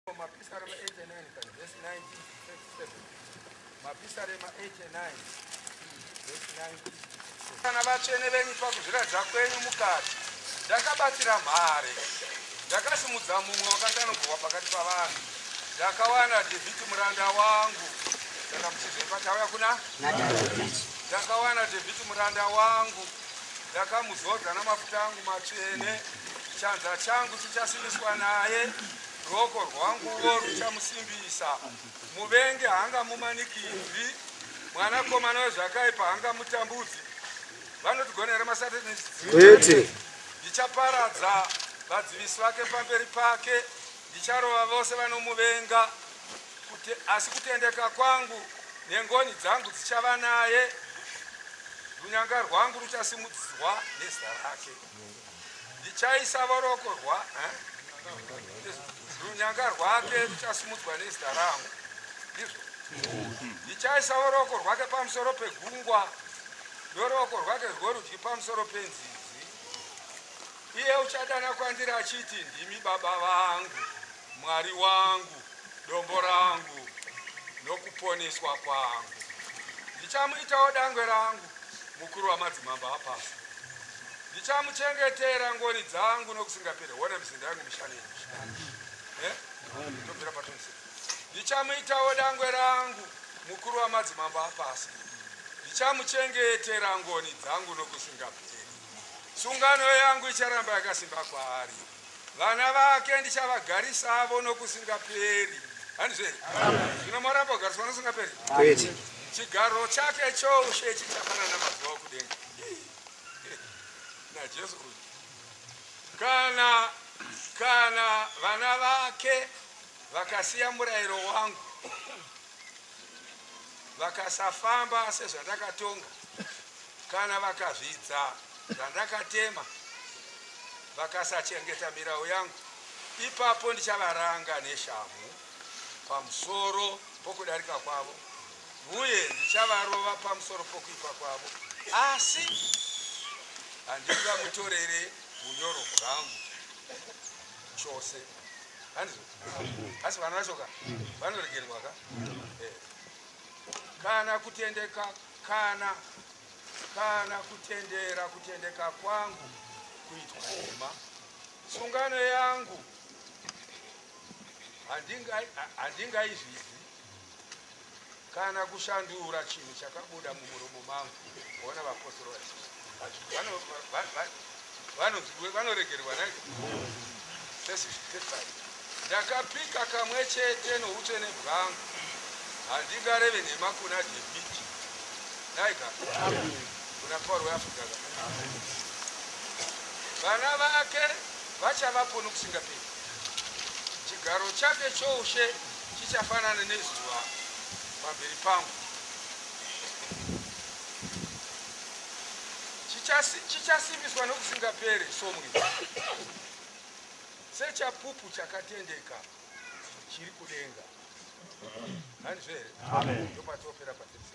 Mapisarema 8 and 9 kani verse 19 to 37. Mapisarema 8 and 9 verse 19 kana vatsvene venyu pakuzviratidza kwenyu mukati ndakabatsira mhare ndakasimudza mumwe wakatanogurwa pakati pavanhu ndakawana dhevhiti muranda wangu saka muchizvepa tauya kuna ndakawana dhevhiti muranda wangu ndakamuzodza namafuta angu matsvene chanza changu chichasimbiswa naye Ruoko rwanguwo ruchamusimbisa. Muvengi haangamumanikidzi, mwanakomana wezvakaipa haangamutambudzi. Vanotigonera maSatanists chete. Ndichaparadza vadzivisi vake pamberi pake, ndicharova vose vanomuvenga. Kute, asi kutendeka kwangu nengoni dzangu dzichava naye, runyanga rwangu ruchasimudzwa nezita rake. Ndichaisa voroko rwa eh? runyanga rwake ruchasimudzwa nezita rangu ndizvo ndichaisa voroko rwake pamusoro pegungwa noroko rwake rworudyi pamusoro penzizi iye uchadana kwandiri achiti ndimi baba vangu Mwari wangu, dombo rangu nokuponeswa kwangu. Ndichamuitawo dangwe rangu, mukuru wamadzimambo apasi. Ndichamuchengetera ngoni dzangu nokusingaperi. Hona mizinda yangu mishanu yemishanu. Eh? Tobvira patonse. Ndichamuitawo dangwe rangu, mukuru wamadzimambo apasi. Ndichamuchengetera ngoni dzangu nokusingaperi. Sungano yangu icharamba yakasimba kwaari. Vana vake ndichavagarisavo nokusingaperi. Handizvo here? Zvino moramba kugariswa nokusingaperi? Kwete. Chigaro chake choushe chichafanana mazuva okudenga. NaJesu uyu. Kana, kana vana vake vakasiya murayiro wangu. vakasafamba sezvandakatonga, kana vakazvidza zvandakatema, vakasachengeta mirau yangu, ipapo ndichavaranga neshamhu pamusoro pokudarika kwavo, uye ndichavarova pamusoro pokuipa kwavo, asi handingamutorere unyoro hwangu chose. asi vana vacho ka vanoregerwa ka eh. kana kutendeka kana kana kutendera kutendeka kwangu kuitwa nhema sungano yangu handingaizvizi Kana kushandura chinhu chakabuda mumuromo mangu. Ona vapostori vazhinji vanoregererwa nai ndakapika kamwe chete noutsvene bwangu handingareve nhema kuna debiti naiga kuna pauro weafrica vana vake vachavapo nokusingaperi chigaro chake choushe Chichafanana nezuva pamberi pangu, Chichasi- chichasimbiswa nokusingapere somwenga, sechapupu chakatendeka chiri kudenga. Hanizvo here? Amen. Ndopatopera patese.